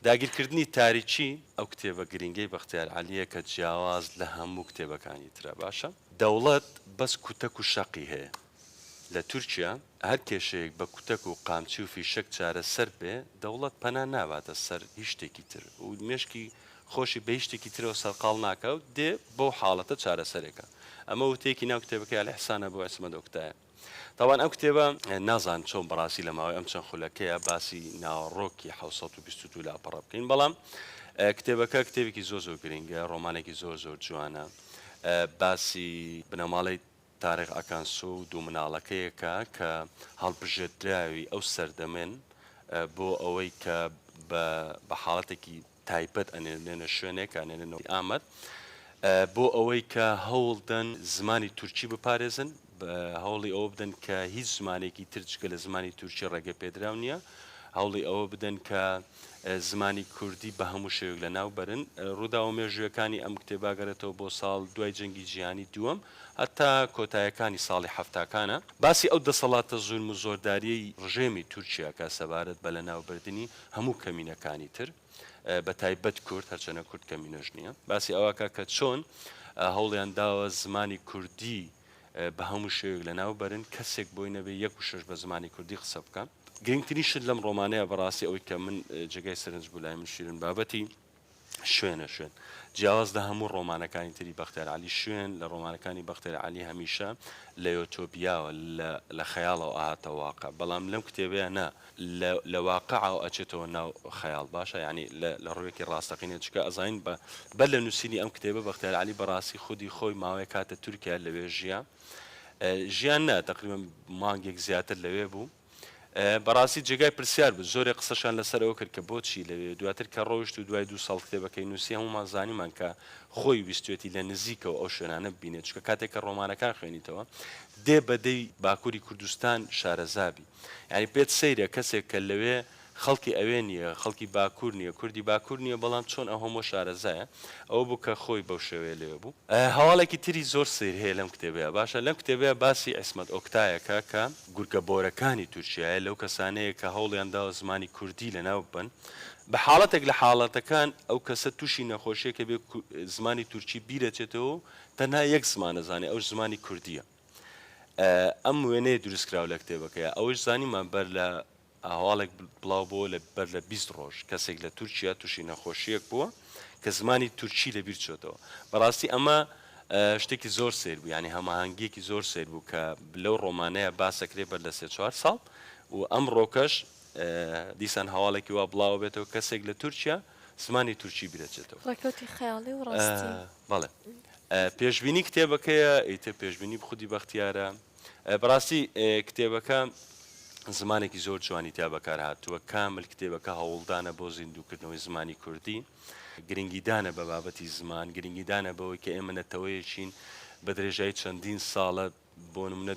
داگیرکردنی تاریکی، ئەو کتێبە گرینگەی بەختیار عەلییە کە جیاواز لە هەموو کتێبەکانی ترە باشە. دەوڵەت بەس کوتەک و شەقی هەیە لە تورکیا، هەر کێشەیەک بە کوتەک و قامچی و فیشەک چارەسەر بێ، دەوڵەت پەنا ناباتە سەر هیچ شتێکی تر و مێشکی خۆشی بە هیچ شتێکی ترەوە سەرقاڵ ناکا و دێ بەو حاڵەتە چارەسەرێکا. ئەمە وتەیەکی ناو کتێبەکەی ئەلئیحسان ئەبو عیسمەت ئۆکتایە. تاوان ئەم کتێبە نازان چۆن بەڕاستی لە ماوەی ئەم چەند خولەکەیە باسی ناوەڕۆکی 1920 لاپەڕە بکەین بەڵام کتێبەکە کتێبێکی زۆر زۆر گرنگە ڕۆمانێکی زۆر زۆر جوانە باسی بنەماڵی تاریخ ئەکانسۆ و دوو مناڵەکەیەکە کە هەڵبژێدراوی ئەو سەردەمێن بۆ ئەوەی کە بە حاڵەتێکی تایبەت ئەنێرنێنە شوێنێک ئەنێرنەوە ئامەد بۆ ئەوەی کە هەوڵدەن زمانی تورکی بپارێزن هەوڵی ئەوە بدەن کە هیچ زمانێکی ترجگە لە زمانی تورکی ڕێگە پێدراو نییە هەوڵی ئەوە بدەن کە زمانی کوردی بە هەموو شێوک لە ناو بەرن ڕووداوە مێژوویەکانی ئەم کتێباگەرێتەوە بۆ ساڵ دوای جەنگی جیهانی دووەم هەتا کۆتایەکانی ساڵی هەفتاکانە باسی ئەو دەسەڵاتە زورم و زۆرداریەی ڕژێمی تورکیاکە سەبارەت بە لە ناوبردنی هەموو کەمینەکانی تر بە تایبەت کورد هەرچەنە کورد کەمینەش نییە باسی ئەوکە کە چۆن هەوڵیان داوە زمانی کوردی بە هەموو شێوێک لە ناو بەرن کەسێک بۆی نەبێ یەک و شش بە زمانی کوردی قسە بکەن گرنگترین شت لەم ڕۆمانەیە بەڕاستی ئەوەی کە من جێگای سەرنج بوو لای من شیرن بابەتی شوێنە شوێن. جیاواز لە هەموو ڕۆمانەکانی تری بەختیار عەلی، شوێن لە ڕۆمانەکانی بەختیار عەلی هەمیشە لە یۆتۆپیاوە، لە لە خەیاڵەوە ئەهاتە واقع، بەڵام لەم کتێبەیا نا، لە لە واقعەوە ئەچێتەوە ناو خەیاڵ، باشە یانی لە لە ڕوویەکی ڕاستەقینە، چونکە ئەزانین بە بەر لە نووسینی ئەم کتێبە بەختیار عەلی بەڕاستی خودی خۆی ماوەیەک هاتە تورکیا لەوێ ژیا. ژیا نا، تەقریبەن مانگێک زیاتر لەوێ بوو. بەڕاستی جێگای پرسیار بوو زۆرێ قسەشان لەسەر ئەوە کرد کە بۆچی لەوێ دواتر کە ڕۆیشت و دوای دوو ساڵ کتێبەکەی نووسی هەمومان زانیمان کە خۆی ویستوێتی لە نزیکەوە ئەو شوێنانە ببینێت چکە کاتێک کە ڕۆمانەکان خوێنیتەوە دێ بەدەی باکووری کوردستان شارەزابی یعنی پێت سەیرە کەسێک کە لەوێ خەڵکی ئەوێ نیە خەڵکی باکور نیە کوردی باکور نیە بەڵام چۆن ئەو هەموە شارەزایە ئەوە بو کە خۆی بەو شێوەیە لەوێ بو. هەواڵێکی تری زۆر سەیر هەیە لەم کتێبەیا باشە لەم کتێبەیا باسی عیسمەت ئۆکتایەکە کە. گورگە بۆرەکانی تورکیایە لەو کەسانەیە کە هەوڵیان داوە زمانی کوردی لەناو ببەن بە حاڵەتێک لە حاڵەتەکان ئەو کەسە توشی نەخۆشیەکە بێ زمانی تورکی بیرەچێتەوە و تەنها یەک زمان ئەزانێ ئەوش زمانی کوردیە ئەم وێنەیە دروست کراوە لە کتێبەکەیا ئەوەش زانیمان بەر لە ئەهواڵێک بڵاو بۆوە لە بەر لە بیست ڕۆژ کەسێک لە تورکیا توشی نەخۆشیەک بووە کە زمانی تورکی لە بیر چۆتەوە بەڕاستی ئەمە شتێکی زۆر سەیر بوو یعنی هەماهەنگیەکی زۆر سەیر بوو کە لەو ڕۆمانەیە باسەکرێ بەر لە سێ چوار ساڵ و ئەم ڕۆکەش دیسان هەواڵێکی وا بڵاوە بێتەوە کەسێک لە تورکیا زمانی تورکی بیرەچێتەوە ڕێکەوتی خەیاڵی و ڕاستی بەڵێ پێشبینی کتێبەکەیە ئیتر پێشبینی بخودی بەختیارە بەڕاستی کتێبەکە زمانێکی زۆر جوانی تیا بەکارهاتووە کامل کتێبەکە هەوڵدانە بۆ زیندووکردنەوەی زمانی کوردی گرنگیدانە بە بابەتی زمان گرنگیدانە بەوەی کە ئێمە نەتەوەیەکین بە درێژایی چەندین ساڵە بۆ منە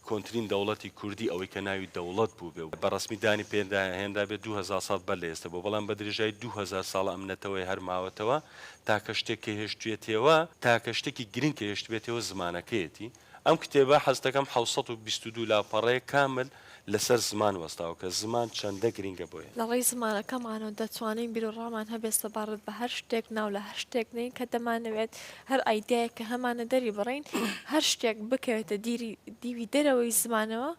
کۆنتترین دەوڵەتی کوردی ئەوەی کە ناوی دەوڵەت بوو بێ و بە ڕسمی دانی پێدا هێنرا بێ 2000 ساڵ بەر لە ئێستا بۆ بەڵام بە درێژای 2000 ساڵ ئەمنەتەوەی هەرماوەتەوە تاکە شتێک کە هێشتویەتێوە، تاکە شتێکی گرنگ کە هێشتبێتێوە زمانەکەیەتی. ئەم کتێبە حەز دەکەم حەوت سەد و بیست و دوو لاپەڕەیە کامل لە سەر زمان وەستاوە کە زمان چەندە گرنگە بۆ ئێمە. لە ڕێی زمانەکەمانەوە دەتوانین بیروڕامان هەبێت سەبارەت بە هەر شتێک، ناو لە هەر شتێک بنێین کە دەمانەوێت، هەر ئایدیایەک کە هەمانە دەری بڕین، هەر شتێک بکەوێتە دیری دیوی دەرەوەی زمانەوە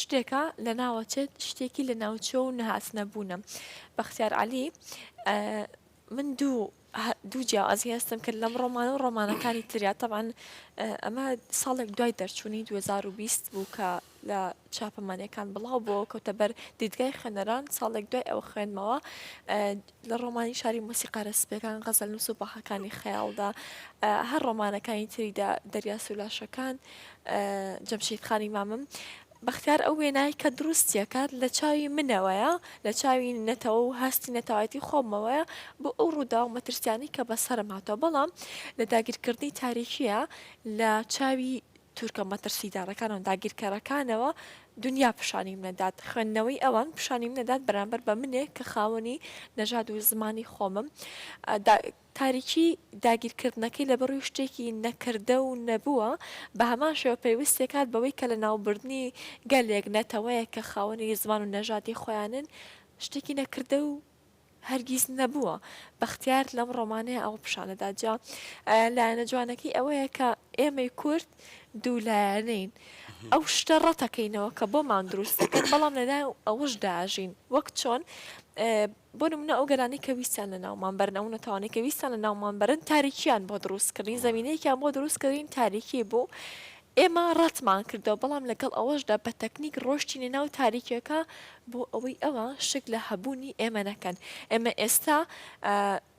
شتێکە لە ناوە چێت، شتێکی لە ناوچووە و نەهاتنەبوونە. بەختیار عەلی. من دوو دوو جیاوازی هەستم کرد لەم ڕۆمانە و ڕۆمانەکانی تریا تەبان ئەمە ساڵێک دوای دەرچوونی 2020 بوو کە لە چاپەمانەکان بڵاو بۆ کەوتە بەر دیدگای خوێنەران ساڵێک دوای ئەوە خوێنمەوە لە ڕۆمانی شاری مۆسیقارە سپەکان غەزل نووس و باخەکانی خەیاڵدا هەر ڕۆمانەکانی تریدا دەریاسولاشەکان جەمشیدخانی مامم بەختیار ئەو وێنای کە دروستیەکات لە چاوی منەوەیە لە چاوی نەتەوە و هەستی نەتەوایەتی خۆمەوەیە بۆ ئەو ڕووداو مەترسیانەی کە بەسەرم هاتوە بەڵام لە داگیرکردنی تاریکیە لە چاوی تورکە مەترسیدارەکان و داگیرکەرەکانەوە دونیا پیشانیم نەدات خوێندنەوەی ئەوان پیشانیم نەدات بەرامبەر بە منێک کە خاوەنی نەژاد و زمانی خۆمم دا تاریکی داگیرکردنەکەی لەبەڕووی شتێکی نەکردە و نەبووە، بە هەمان شێوە پەیوەست دەکات بەوەی کە لەناوبردنی گەلێک، نەتەوەیەک کە خاوەنی زمان و نەژادی خۆیانن، شتێکی نەکردە و هەرگیز نەبووە. بەختیار لەم ڕۆمانەیا ئەوە پیشان دەدات. جا لایەنە جوانەکەی ئەوەیە کە ئێمەی کورد دوو لایەنەین. ئەو شتە ڕەتەکەینەوە کە بۆمان دروست دەکەن، بەڵام لەلایەن ئەوەشدا ئەژین. وەک چۆن بۆ نمونە ئەو گەلانەی کە ویستیان لە ناومان بەرن ئەو نەتەوانەی کە ویستیان لە ناومان بەرن تاریکیان بۆ دروست کردین زەمینەیەکیان بۆ دروست کردین تاریکی بوو ئێمە ڕەتمان کردەوە بەڵام لەگەڵ ئەوەشدا بە تەکنیک ڕۆشتینە ناو تاریکیەکە بۆ ئەوەی ئەوە شک لە هەبوونی ئێمە نەکەن ئێمە ئێستا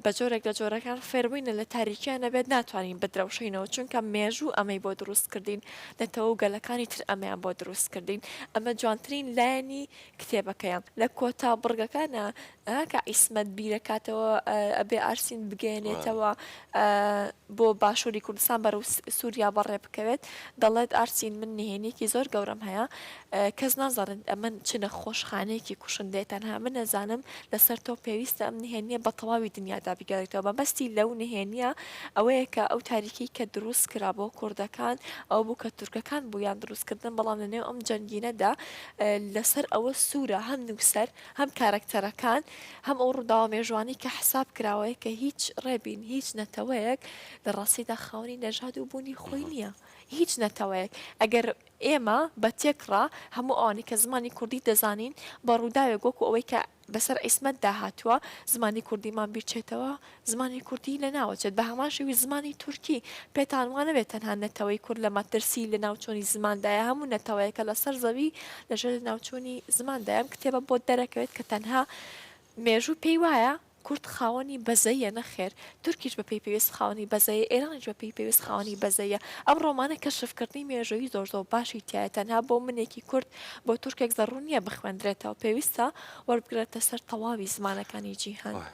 بە جۆرێک لە جۆرەکان فێربووینە لە تاریکیان نەبێت ناتوانین بدرەوشینەوە چونکە مێژوو ئەمەی بۆ دروست کردین نەتەوە گەلەکانی تر ئەمیان بۆ دروست کردین ئەمە جوانترین لایەنی کتێبەکەیە لە کۆتا بڕگەکانا کاک عیسمەت بیرەکاتەوە ئەبێ ئارسین بگەیەنێتەوە بۆ باشووری کوردستان بەرەو سووریا بەڕێ بکەوێت دەڵێت ئارسین من نهێنیکی زۆر گەورەم هەیە کەس نازانن ئەمن چ نەخۆشخانەیەکی کوشندەیە تەنها من نەزانم لەسەر تۆ پێویستە ئەم نهێنیە بە تەواوی دنیادا بگەڕێتەوە مەبەستی لەو نهێنیە ئەوەیە کە ئەو تاریکی کە دروست کرا بۆ کوردەکان ئەو بوو کە تورکەکان بوویان دروستکردن بەڵام لەنێو ئەم جەنگینەدا لەسەر ئەوە سوورە هەم نووسەر هەم کارەکتەرەکان هەم ئەو ڕووداوە مێژووانەی کە حساب کراوەیە کە هیچ ڕێبین هیچ نەتەوەیەک لە ڕاستیدا خاوەنی نەژاد و بوونی خۆی نییە هیچ نەتەوەیەک ئەگەر ئێمە بە تێکڕا هەموو ئەوانەی کە زمانی کوردی دەزانین بە ڕووداوێک وەکو ئەوەی کە بەسەر عیسمەتدا هاتووە زمانی کوردیمان بیرچێتەوە، زمانی کوردی لەناوەچێت، بە هەمان شێوەی زمانی تورکی، پێتان وانەبێت تەنها نەتەوەی کورد لە مەترسیی لەناوچوونی زماندایە، هەموو نەتەوەیەکە لەسەر زەوی لەژێر لەناوچوونی زماندا، ئەم کتێبە بۆت دەرەکەوێت کە تەنها مێژوو پێی وایە کورد خاوەنی بەزەیە، نەخێر تورکیش بە پێی پێویست خاوەنی بەزەیە، ئێرانیش بە پێی پێویست خاوەنی بەزەیە. ئەم ڕۆمانە کەشفکردنی مێژوویی زۆر زۆر باشی تیایە، تەنها بۆ منێکی کورد، بۆ تورکێک زەڕوور نییە بخوێندرێتەوە، پێویستە وەربگرێتە سەر تەواوی زمانەکانی جیهان.